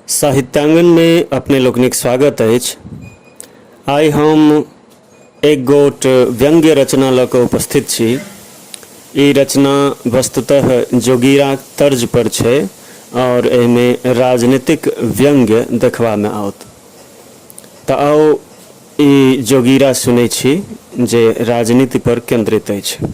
साहित्यांगन में अपने लोकनिक स्वागत अछि आइ हम एक गोट व्यंग्य रचना लऽ कऽ उपस्थित छी ई रचना वस्तुतः जोगीरा तर्ज पर छै और एहिमे राजनीतिक व्यंग्य देखबा में आओत तऽ आओ ई जोगीरा सुनै छी जे राजनीति पर केंद्रित अछि